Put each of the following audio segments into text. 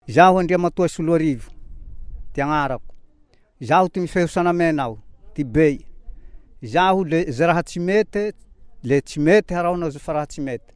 Izaho Andriamatoa Soloarivo, ty agnarako. Izaho ty mifeho sanamena aho, ty bey. Izaho le ze raha tsy mety, le tsy mety haraho nazo fa raha tsy mety.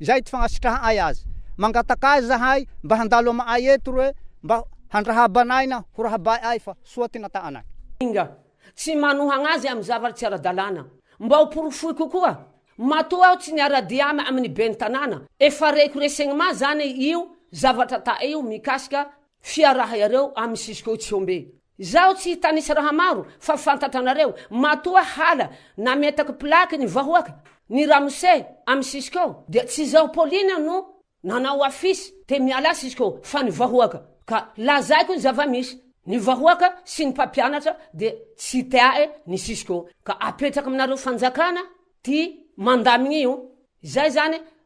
izay ty fagnasitraha ay azy. Mangataka azy zahay mba handalo ama ay eto roe mba handrahabanaina ho rahabahy ay fa soa ty nata anay. Enga, tsy manohagna azy amy zavatra tsy ara-dalàna. Mba ho porofoy kokoa, matoa aho tsy niara-dia amy ny Ben'ny tanàna, efa reko resegny ma zany io zavatra ta io mikasika Fiaraha iareo amin'ny Cisco Tsiombe. Izaho tsy hitanisa raha maro fa fantatra anareo, matoa hala nametaka plaque ny vahoaka, ny ramose amin'ny Cisco dia tsy izaho Pauline no nanao affiche te mialà Cisco fa ny vahoaka, ka lazaiko ny zava-misy, ny vahoaka sy ny mpampianatra dia tsy teae ny Cisco ka apetraka aminareo fanjakana ty mandamigny io, izay zany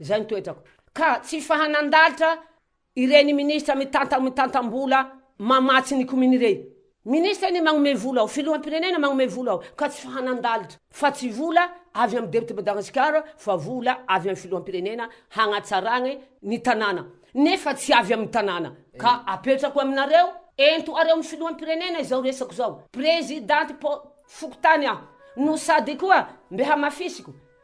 Izay ny toetrako. Ka tsy fahanan-dalitra ireny ministra mitanta mitantam-bola mamatsy ny komini ireny. Ministra anie magnome vola ao, filoham-pirenena magnome vola ao, ka tsy fahanan-dalitra, fa tsy vola avy amin'ny depiote Madagasikara fa vola avy amin'ny filoham-pirenena hagnatsaragny ny tanàna, nefa tsy avy amin'ny tanàna. Ka apetrako aminareo, ento areo ny filoham-pirenena izao resako izao, prezidanty po fokontany aho, no sady koa mbe hamafisiko,